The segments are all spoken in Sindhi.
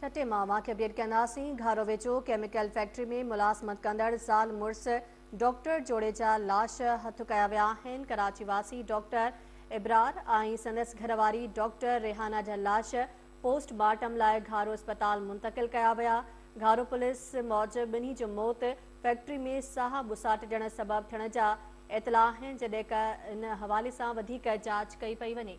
ٺٽي مان ماکي اپڊيٽ ڪنداسين گهارو ويجهو ڪيميڪل فيڪٽري ۾ ملازمت ڪندڙ زال مڙس ڊاڪٽر جوڙي جا لاش هٿ ڪيا ويا آهن ڪراچي واسي ڊاڪٽر ابرار ۽ سندس گهرواري ڊاڪٽر ريحانا جا لاش پوسٽ مارٽم لاء گهارو اسپتال منتقل ڪيا ويا گهارو پوليس موجب ٻنهي جو موت فيڪٽري ۾ ساهه ٻساٽجڻ سبب ٿيڻ جا اطلاع آهن جڏهن ان حوالي سان وڌيڪ جاچ ڪئي پئي وڃي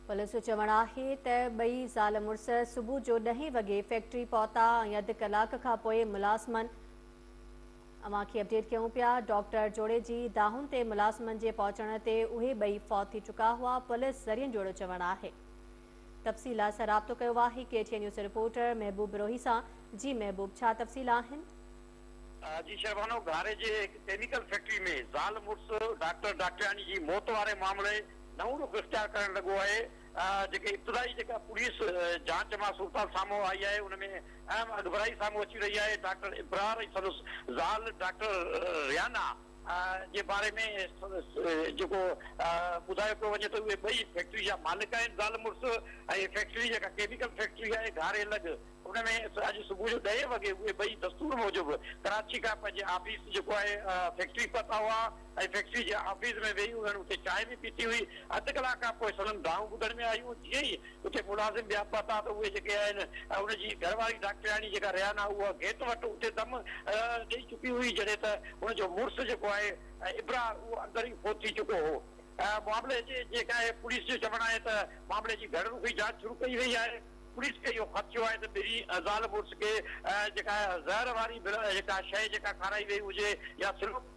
پوليس جو چوڻ آهي ته ٻئي زال مڙس صبح جو ڏهين وڳي فيڪٽري پهتا ۽ اڌ ڪلاڪ کان پوء ملازمن اوهان کي اپڊيٽ ڪيون پيا ڊاڪٽر جوڙي جي دانهن تي ملازمن جي پهچڻ تي اهي ٻئي فوت ٿي چڪا هئا پوليس ذريعن جوڙو چوڻ آهي تفصيلات سان رابطو ڪيو آهي K T N news reporter Mehboob Brohi سان جي محبوب ڇا تفصيل آهن. جي شربانو گهاري جي هڪ ڪيميڪل فيڪٽري ۾ زال مڙس ڊاڪٽر ڊاڪٽرياڻي جي موت واري معاملي نئون رخ اختيار ڪرڻ لڳو آهي جيڪي ابتدائي جيڪا پوليس جانچ مان صورتحال سامهون آئي آهي ان ۾ اهم اڳڀرائي سامهون اچي رهي آهي ڊاڪٽر ابرار ۽ سندس زال ڊاڪٽر ريانا جي باري ۾ جيڪو ٻڌايو پيو وڃي ته اهي ٻئي فيڪٽري جا مالڪ آهن زال مڙس ۽ فيڪٽري جيڪا ڪيميڪل فيڪٽري آهي گهاري لڳ ان ۾ اڄ صبح جو ڏهين وڳي اهي ٻئي دستور موجب ڪراچي کان پنهنجي آفيس جيڪو آهي فيڪٽري پهتا هئا ۽ فيڪٽري جي آفيس ۾ ويهي انهن اتي چانهه به پيتي هئي اڌ ڪلاڪ کان پوء سندن دانهون ٻڌڻ ۾ آيون جيئن ئي اتي ملازم ٻيا پهتا ته اهي جيڪي آهن ۽ هن جي گهر واري ڊاڪٽرياڻي جيڪا ريان آهي اها گيٽ وٽ اتي دم ڏئي چڪي هئي جڏهن ته هن جو مڙس جيڪو آهي ابرار اهو اندر ئي فوت ٿي چڪو هو. معاملي جي جيڪ آهي پوليس جو چوڻ آهي ته معاملي جي گهڻ رخي جاچ شروع ڪئي وئي آهي. پوليس کي اهو خدشو آهي ته ٻنهي زال مڙس کي جيڪا آهي زهر واري جيڪا شئي جيڪا کارائي وئي هجي يا سلوڪ.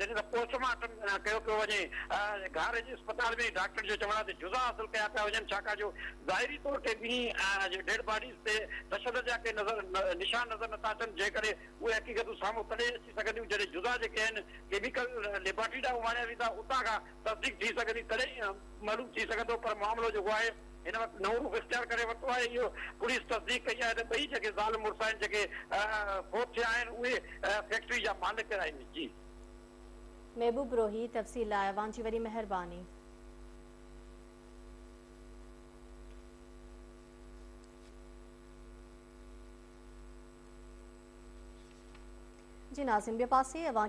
جڏهن ته پوسٽ مارٽم ڪيو پيو وڃي گهاريجي اسپتال ۾ ڊاڪٽرن جو چوڻ آهي ته جزا حاصل ڪيا پيا وڃن ڇاڪاڻ جو ظاهري طور تي ٻنهي ڊيڊ باڊيز تي تشدد جا ڪي نظر نشان نظر نٿا اچن جيڪڏهن اهي حقيقتون سامهون تڏهن اچي سگهنديون جڏهن جزا جيڪي آهن ڪيميڪل ليبارٽري ڏانهن اماڻيا ويندا اتان کان تصديق ٿي سگهندي تڏهن ئي معلوم ٿي سگهندو پر معاملو جيڪو آهي هن وقت نئون روپ اختيار ڪري ورتو آهي اهو پوليس تصديق ڪئي آهي ته ٻئي جيڪي زال مڙس آهن جيڪي فوت ٿيا آهن اهي فيڪٽري جا مالڪ آهن جي. محبوب روهي تفصيل لاء اوهان جي وڏي مهرباني. جي ناظرين ٻئي پاسي اوهان کي